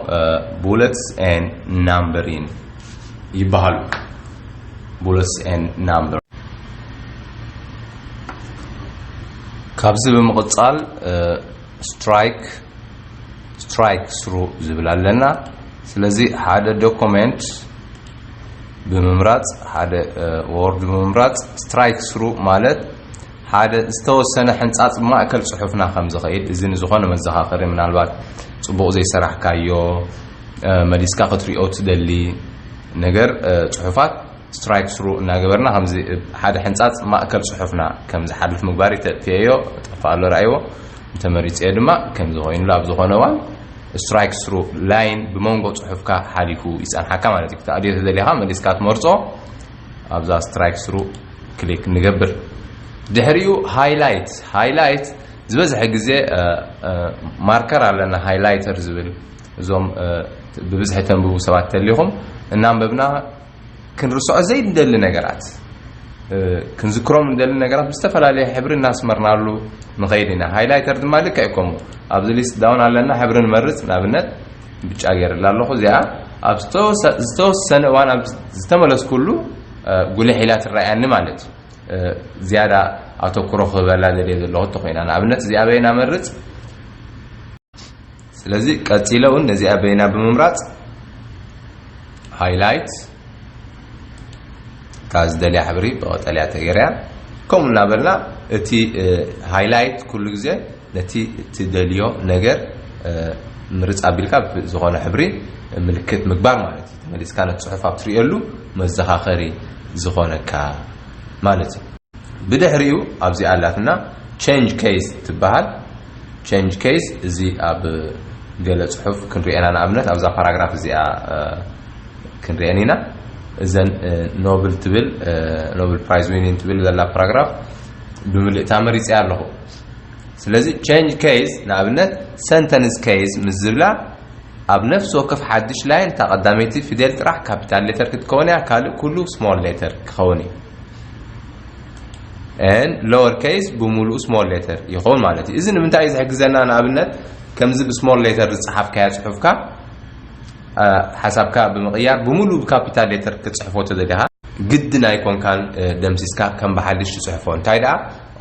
ቡለትስ ኤን ናምበሪን ይበሃሉ ቡለትስ ኤን ናምበር ካብዚ ብምቕጻል ስትራይክ ስትራይክ ስሩ ዝብል ኣለና ስለዚ ሓደ ዶኮሜንት ብምምራጽ ሓደ ወርድ ብምምራጽ ስትራይክ ስሩ ማለት ሓደ ዝተወሰነ ሕንጻጽ ማእከል ጽሑፍና ከም ዝኸይድ እዚ ንዝኾነ መዘኻኸሪ ምናልባት ጽቡቕ ዘይሰራሕካዮ መሊስካ ክትሪኦ ትደሊ ነገር ጽሑፋት ስትራይክ ስሩ እናገበርና ከምዚ እብ ሓደ ሕንጻጽ ማእከል ጽሑፍና ከም ዝሓልፍ ምግባር'ዩ ተጥፍኤዮ እጠፍኣሉ ርኣይዎ እንተመሪጸዮ ድማ ከምዚ ኮይኑሉ ኣብ ዝኾነ እዋን ስትራይክ ስሩ ላይን ብመንጎ ጽሑፍካ ሓሊፉ ይጸንሓካ ማለት'ዩ ክትኣልዮ ተደሊኻ መሊስካ ትመርጾ ኣብዛ ስትራይክ ስሩ ክሊክ ንገብር ድሕሪኡ ሃይላይት ሃይላይት ዝበዝሐ ግዜ ማርከር ኣለና ሃይላይተር ዝብል እዞም ብብዝሒ ተንብቡ ሰባት ተሊኹም እናንበብና ክንርስዖ ዘይንደሊ ነገራት ክንዝክሮም እንደሊ ነገራት ብዝተፈላለየ ሕብሪ እናስመርናሉ ንኸይድ ኢና ሃይላይተር ድማ ልክዕ ከምኡ ኣብዚ ሊስት ዳውን ኣለና ሕብሪ ንመርፅ ንኣብነት ብጫ ገይርላ ኣለኹ እዚኣ ኣብ ዝተወሰነ እዋን ኣብ ዝተመለስኩሉ ጉልሕ ኢላ ትረኣያኒ ማለት እዩ ዝያዳ ኣተኩሮ ክህበላ ዘድየ ዘለኹ እንተኮይና ንኣብነት እዚኣ በይና መርፅ ስለዚ ቀጺለ ውን ነዚኣ በይና ብምምራጽ highlight እታ ዝደልያ ሕብሪ ብቐጠልያ ተገይራያ ከምኡ እናበልና እቲ highlight ኩሉ ግዜ ነቲ እትደልዮ ነገር ምርጽ ኣቢልካ ብዝኾነ ሕብሪ ምልክት ምግባር ማለት እዩ ተመሊስካ ነቲ ጽሑፍ ኣብ ትርእየሉ መዘኻኸሪ ዝኾነካ ማለት እዩ ብድሕሪኡ ኣብዚኣ ኣላትና change case ትበሃል Change Case እዚ ኣብ ገለ ጽሑፍ ክንሪኦ ኢና ንኣብነት ኣብዛ ፓራግራፍ እዚኣ ክንሪኤን ኢና እዘን ኖብል ትብል ኖብል ፕራይዝ ዊኒን ትብል ዘላ ፓራግራፍ ብምልእታ መሪጸያ ኣለኹ ስለዚ ቼንጅ ኬዝ ንኣብነት ሰንተንስ ኬዝ ምስ ዝብላ ኣብ ነፍሲ ወከፍ ሓድሽ ላይን እታ ቀዳመይቲ ፊደል ጥራሕ ካፒታል ሌተር ክትከውን እያ ካልእ ኩሉ ስሞል ሌተር ክኸውን እዩ and lower case ብምሉኡ small letter ይኸውን ማለት እዩ። እዚ ንምንታይ እዩ ዝሕግዘና? ንኣብነት ከምዚ ብስሞል ሌተር ዝጸሓፍካያ ጽሑፍካ ሓሳብካ ብምቕያር ብምሉኡ ብካፒታል ሌተር ክትጽሕፎ ተደሊኻ ግድን ኣይኮንካን ደምሲስካ ከም ብሓድሽ ትጽሕፎ። እንታይ ደኣ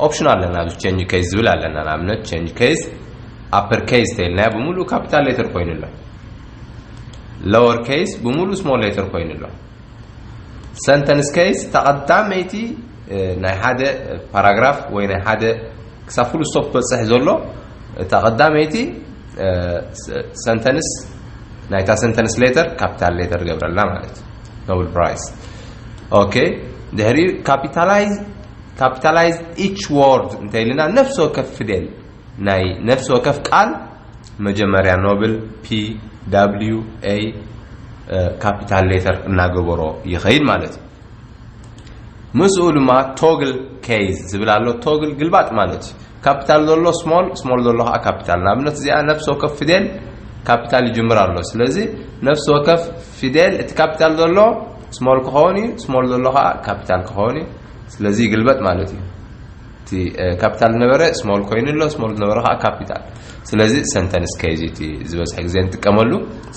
ኦፕሽን ኣለና ኣብዚ ቼንጅ ኬዝ ዝብል ኣለና። ንኣብነት ቼንጅ ኬዝ ኣፐር ኬዝ ተይልናዮ ብምሉኡ ካፒታል ሌተር ኮይኑ ኣሎ። ሎወር ኬዝ ብምሉኡ ስሞል ሌተር ኮይኑ ኣሎ። ሰንተንስ ኬይስ እታ ቀዳመይቲ ናይ ሓደ ፓራግራፍ ወይ ናይ ሓደ ክሳብ ፍሉ ስቶፕ ክበፅሕ ዘሎ እታ ቀዳመይቲ ሰንተንስ ናይታ ሰንተንስ ሌተር ካፒታል ሌተር ገብረላ ማለት እዩ ኖብል ፕራይስ ኦኬ ድሕሪ ካፒታላይዝ ካፒታላይዝ ኢች ወርድ እንተይልና ነፍሲ ወከፍ ፊደል ናይ ነፍሲ ወከፍ ቃል መጀመርያ ኖብል ፒ ዳብሊዩ ኤይ ካፒታል ሌተር እናገበሮ ይኸይድ ማለት እዩ። ምስኡ ድማ ቶግል ኬይዝ ዝብል ኣሎ። ቶግል ግልባጥ ማለት እዩ። ካፒታል ዘሎ ስሞል፣ ስሞል ዘሎ ከዓ ካፒታል። ንኣብነት እዚኣ ነፍሲ ወከፍ ፊደል ካፒታል ይጅምር ኣሎ። ስለዚ ነፍሲ ወከፍ ፊደል እቲ ካፒታል ዘሎ ስሞል ክኸውን እዩ፣ ስሞል ዘሎ ከዓ ካፒታል ክኸውን እዩ። ስለዚ ይግልበጥ ማለት እዩ። እቲ ካፒታል ዝነበረ ስሞል ኮይኑ ኣሎ ስሞል ዝነበረ ከዓ ካፒታል ስለዚ ሰንተንስ ከይዝ እቲ ዝበዝሐ ግዜ ንጥቀመሉ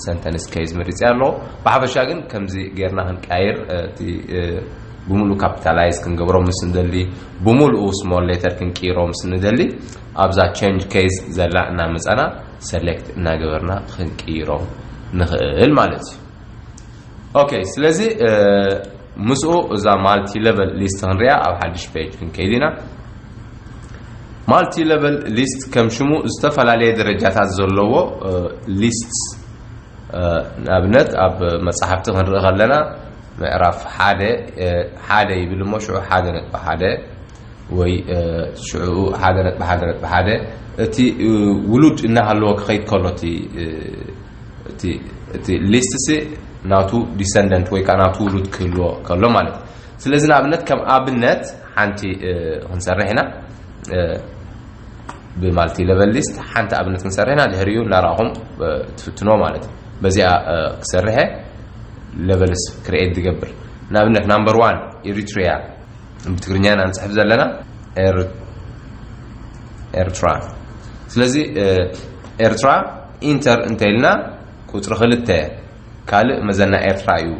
ሰንተንስ ከይዝ መሪፀ ኣለዎ ብሓፈሻ ግን ከምዚ ጌርና ክንቀያየር እቲ ብምሉእ ካፒታላይዝ ክንገብሮ ምስ ንደሊ ብምሉኡ ስሞል ሌተር ክንቅይሮ ምስ ንደሊ ኣብዛ ቸንጅ ኬዝ ዘላ እናመፀና ሰሌክት እናገበርና ክንቅይሮም ንኽእል ማለት እዩ ኦከይ ስለዚ ምስኡ እዛ ማልቲ ለቨል ሊስት ክንሪኣ ኣብ ሓድሽ ፔጅ ክንከይድ ኢና ማልቲ ለቨል ሊስት ከም ሽሙ ዝተፈላለየ ደረጃታት ዘለዎ ሊስት ንኣብነት ኣብ መፅሓፍቲ ክንርኢ ከለና ምዕራፍ ሓደ ሓደ ይብል እሞ ሽዑ ሓደ ነጥቢ ሓደ ወይ ሽዑኡ ሓደ ነጥቢ ሓደ ነጥቢ ሓደ እቲ ውሉድ እናሃለዎ ክኸይድ ከሎ እቲ እቲ ሊስትሲ ናቱ ዲሰንደንት ወይ ከዓ ናቱ ውሉድ ክህልዎ ከሎ ማለት እዩ ስለዚ ንኣብነት ከም ኣብነት ሓንቲ ክንሰርሕ ኢና ብማልቲ ለቨል ሊስት ሓንቲ ኣብነት ክንሰርሕ ኢና ድሕሪኡ እናረኣኹም ትፍትኖ ማለት እዩ በዚኣ ክሰርሐ ለቨልስ ክርኤት ዝገብር ንኣብነት ናምበር ዋን ኤሪትሪያ ብትግርኛ ኢና ንፅሕፍ ዘለና ኤርትራ ስለዚ ኤርትራ ኢንተር እንተ ኢልና ቁጽሪ ክልተ ካልእ መዘና ኤርትራ እዩ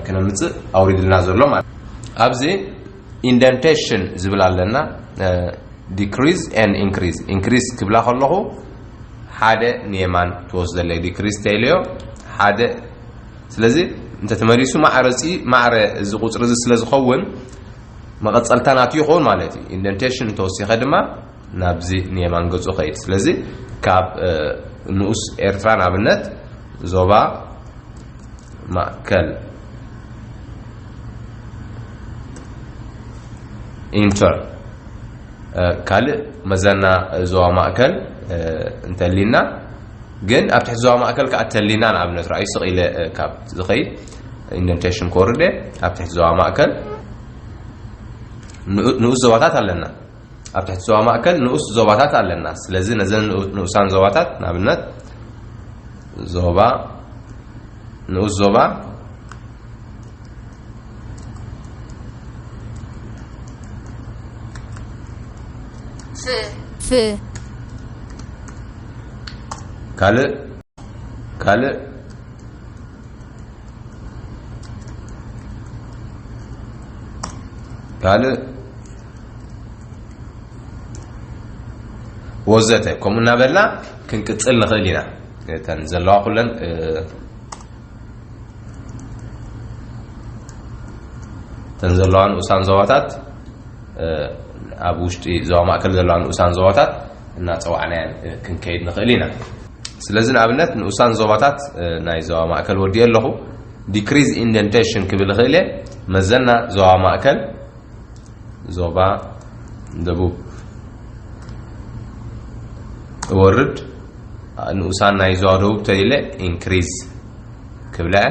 ክነምጽእ ኣውሪድልና ዘሎ ማለት ኣብዚ ኢንደንቴሽን ዝብል ኣለና ዲክሪዝ ኤን ኢንክሪዝ ኢንክሪዝ ክብላ ከለኹ ሓደ ንየማን ትወስደለይ ዲክሪዝ ተይለዮ ሓደ ስለዚ እንተተመሊሱ ማዕረ ፂ ማዕረ እዚ ቁፅሪ እዚ ስለ ዝኸውን መቐፀልታ ናቱ ይኸውን ማለት እዩ ኢንደንቴሽን እንተወሲኸ ድማ ናብዚ ንየማን ገጹ ኸይድ ስለዚ ካብ ንኡስ ኤርትራ ንኣብነት ዞባ ማእከል ኢንተር ካልእ መዘና ዞባ ማእከል እንተሊና ግን ኣብ ትሕቲ ዞባ ማእከል ከዓ ተሊና ንኣብነት ርኣዩ ስቕ ኢለ ካብ ዝኸይድ ኢንደንቴሽን ኮርደ ኣብ ትሕቲ ዞባ ማእከል ንኡስ ዞባታት ኣለና ኣብ ትሕቲ ዞባ ማእከል ንኡስ ዞባታት ኣለና። ስለዚ ነዘን ንኡሳን ዞባታት ንኣብነት ዞባ ንኡስ ዞባ ፍ ካልእ ካልእ ካልእ ወዘተ ከምኡ እናበልና ክንቅፅል ንኽእል ኢና እተን ዘለዋ ኩለን እተን ዘለዋ ንኡሳን ዞባታት ኣብ ውሽጢ ዞባ ማእከል ዘለዋ ንኡሳን ዞባታት እናጸዋዕናየን ክንከይድ ንኽእል ኢና። ስለዚ ንኣብነት ንኡሳን ዞባታት ናይ ዞባ ማእከል ወዲኤ ኣለኹ። Decrease Indentation ክብል እኽእል እየ። መዘና ዞባ ማእከል፣ ዞባ ደቡብ እወርድ፣ ንኡሳን ናይ ዞባ ደቡብ ተሊለ ኢንክሪዝ ክብላ እየ።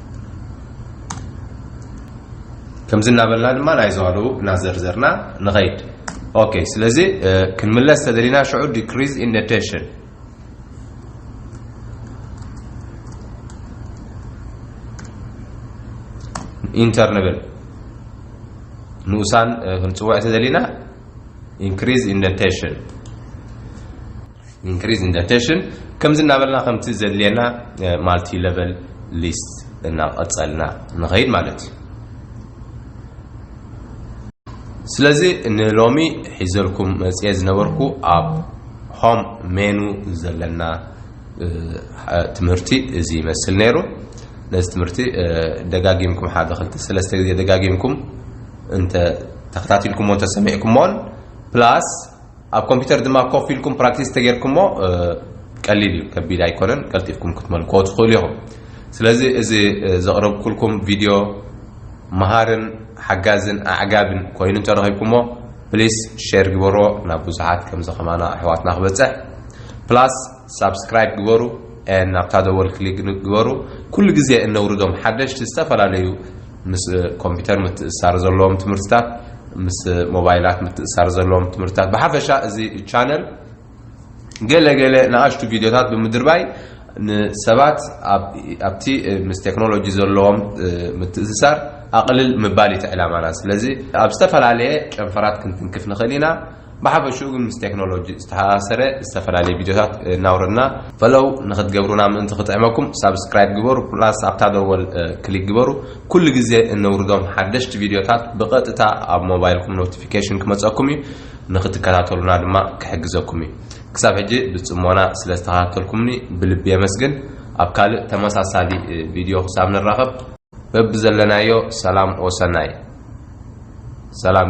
ከምዚ እናበልና ድማ ናይ ዞባ ደቡብ እናዘርዘርና ንኸይድ ኦኬ ስለዚ ክንምለስ ተደሊና ሽዑ ዲክሪዝ ኢን ኔቴሽን ኢንተር ንብል ንኡሳን ክንፅውዕ ተደሊና ኢንክሪዝ ኢን ኔቴሽን increase in the attention ከምዚ እናበልና ከምቲ ዘድልየና ማልቲ ለቨል ሊስት እናቐፀልና ንኸይድ ማለት እዩ ስለዚ ንሎሚ ሒዘልኩም መፅየ ዝነበርኩ ኣብ ሆም ሜኑ ዘለና ትምህርቲ እዚ ይመስል ነይሩ ነዚ ትምህርቲ ደጋጊምኩም ሓደ ክልተ ሰለስተ ግዜ ደጋጊምኩም እንተ ተኸታቲልኩሞ እንተሰሚዕኩሞን ፕላስ ኣብ ኮምፒተር ድማ ኮፍ ኢልኩም ፕራክቲስ ተጌርኩሞ ቀሊል እዩ ከቢድ ኣይኮነን ቀልጢፍኩም ክትመልክዎ ትኽእሉ ኢኹም ስለዚ እዚ ዘቕረብኩልኩም ቪድዮ መሃርን ሓጋዝን ኣዕጋብን ኮይኑ እንተረኺብኩሞ ፕሊስ ሼር ግበሮ ናብ ብዙሓት ከምዚ ከማና ኣሕዋትና ክበፅሕ ፕላስ ሳብስክራይብ ግበሩ ናብታ ደወል ክሊክ ግበሩ ኩሉ ግዜ እነውርዶም ሓደሽቲ ዝተፈላለዩ ምስ ኮምፒተር ምትእስሳር ዘለዎም ትምህርትታት፣ ምስ ሞባይላት ምትእስሳር ዘለዎም ትምህርትታት፣ ብሓፈሻ እዚ ቻነል ገለ ገለ ንኣሽቱ ቪድዮታት ብምድርባይ ንሰባት ኣብቲ ምስ ቴክኖሎጂ ዘለዎም ምትእስሳር ኣቕልል ምባል እዩ እቲ ዕላማና። ስለዚ ኣብ ዝተፈላለየ ጨንፈራት ክንትንክፍ ንኽእል ኢና። ብሓፈሽኡ ግን ምስ ቴክኖሎጂ ዝተሓሳሰረ ዝተፈላለየ ቪድዮታት እናውረድና ፈለው ንኽትገብሩና ምእንቲ ክጥዕመኩም ሳብስክራይብ ግበሩ ፕላስ ኣብታ ደወል ክሊክ ግበሩ ኩሉ ግዜ እነውርዶም ሓደሽቲ ቪድዮታት ብቐጥታ ኣብ ሞባይልኩም ኖቲፊኬሽን ክመጸኩም እዩ ንኽትከታተሉና ድማ ክሕግዘኩም እዩ ክሳብ ሕጂ ብጽሞና ስለ ዝተኸታተልኩምኒ ብልቢ የመስግን ኣብ ካልእ ተመሳሳሊ ቪድዮ ክሳብ ንራኸብ በብዘለናዮ ሰላም ወሰናይ ሰላም